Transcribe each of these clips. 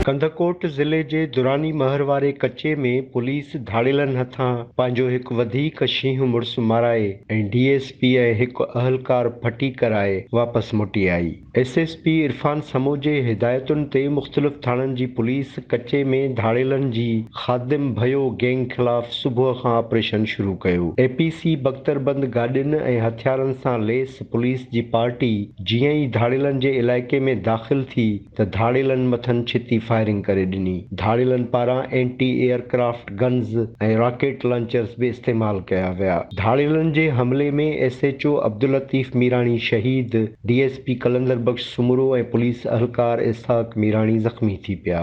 ڪنڌڪوٽ ضلعي جي دراني مهر واري ڪچي ۾ پوليس ڌاڙيلن هٿان پنهنجو هڪ وڌيڪ شينهن مڙس مارائي ۽ ڊي ايس پي ۽ هڪ اهلڪار ڦٽي ڪرائي واپس موٽي آئي. S S P Irfan Samoon جي هدايتن تي مختلف ٿاڻن جي پوليس ڪچي ۾ ڌاڙيلن جي خادم ڀيو گينگ خلاف صبح کان آپريشن شروع ڪيو، اي پي سي بڪتربند گاڏين ۽ هٿيارن سان ليس پوليس جي پارٽي جيئن ئي ڌاڙيلن جي علائقي ۾ داخل ٿي ته ڌاڙيلن مٿن ڇتي فائرنگ ڪري ڏني، ڌاڙيلن پاران anti aircraft. Guns ۽ rocket launchers به استعمال ڪيا ويا. ڌاڙيلن جي حملي ۾ S H O Abdullatif Mirani شهيد، D S P Qalandar Bakhsh Soomro ۽ police اهلڪار اسحاق ميراڻي زخمي ٿي پيا.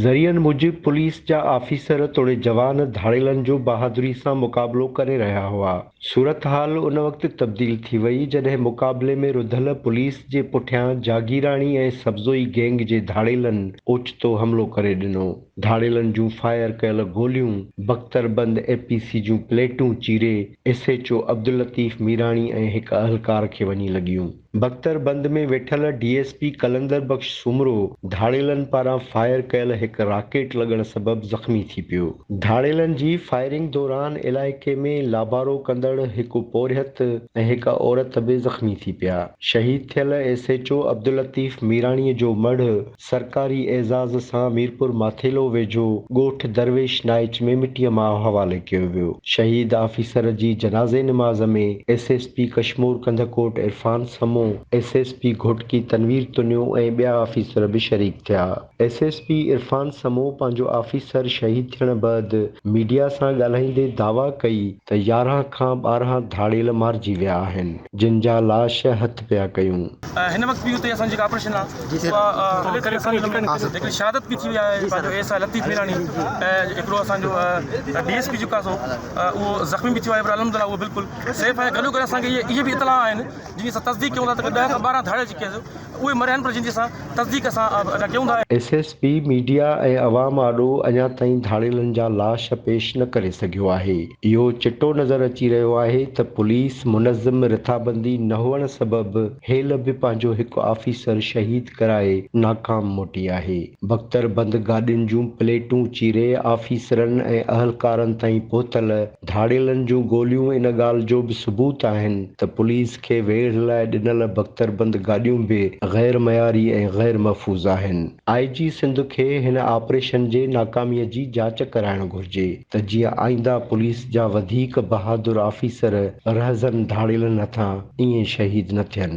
ذريعن موجب پوليس جا آفيسر توڙي جوان ڌاڙيلن جو بهادري سان مقابلو ڪري رهيا هئا. صورتحال ان وقت تبديل ٿي وئي جڏهن مقابلي ۾ رڌل پوليس جي پٺيان جاگيراڻي ۽ سبزوئي گينگ جي ڌاڙيلن اوچتو حملو ڪري ڏنو. ڌاڙيلن جون فائر ڪيل گوليون بختربند اي پي سي جون پليٽون چيري S H O Abdullatif Mirani ۽ هڪ اهلڪار کي وڃي لڳيون. بختربند ۾ ويٺل D S P Qalandar Bakhsh Soomro ڌاڙيلن پاران فائر ڪيل هڪ راڪيٽ لڳڻ سبب زخمي ٿي پيو. ڌاڙيلن جي فائرنگ دوران علائقي ۾ لابارو ڪندڙ هڪ پورهيت ۽ هڪ عورت به زخمي ٿي پيا. شهيد ٿيل S H O Abdullatif Mirani جو مڙهه سرڪاري اعزاز سان ميرپور ماٿيلو ويجهو ڳوٺ درويش نائچ ۾ مٽيء ماء حوالي ڪيو ويو. شهيد آفيسر جي جنازي نماز ۾ S S P Kashmore Kandhkot Irfan Samo, S S P Ghotki Tanveer Tunio ۽ ٻيا آفيسر به شريڪ ٿيا. S S P Irfan Samo پنهنجو آفيسر شهيد ٿيڻ بعد ميڊيا سان ڳالهائيندي دعويٰ ڪئي ته يارهن کان ٻارهن ڌاڙيل مارجي ويا آهن جن جا لاش هٿ پيا ڪيون. هن وقت به اتي اسان جي جيڪا آپريشن آ اها هلي ٿي اسان جي هڪڙي شهادت به ٿي وئي آهي پنهنجو ايس آء لطيف ميراڻي ۽ هڪڙو اسان جو ڊي ايس پي جيڪو آ سو اهو زخمي به ٿيو آهي پر الحمد الله اهو بلڪل سيف آهي گڏو گڏ اسان کي اهي به اطلاع آهن جن جي اسان تصديق ڪيون ٿا ته ڏهه کان ٻارهن ڌاڙيل جيڪي آهن اهي مريا آهن پر جن جي اسان تصديق اسان اڃا ڪيون ٿا. ايس ايس پي ميڊيا ۽ عوام آڏو اڃا تائين ڌاڙيلن جا لاش پيش نه ڪري سگهيو آهي، اهو چٽو نظر اچي رهيو آهي ته پوليس منظم رٿابندي نه هئڻ سبب هيل به پنهنجو هڪ آفيسر شهيد ڪرائي ناڪام موٽي آهي، بڪتر بند گاڏين جون پليٽون چيري آفيسرن ۽ اهلڪارن تائين پهتل. ڌاڙيلن جون گوليون ان ڳالهه جو به ثبوت آهن ته پوليس کي ويڙهه لاء ڏنل بڪتربند گاڏيون به غير معياري ۽ غير محفوظ آهن. آء جي سنڌ کي هن آپريشن جي ناڪامي جي جاچ ڪرائڻ گهرجي ته جيئن آئينده پوليس جا وڌيڪ بهادر آفيسر رهزن ڌاڙيلن هٿان ائين شهيد نه ٿين.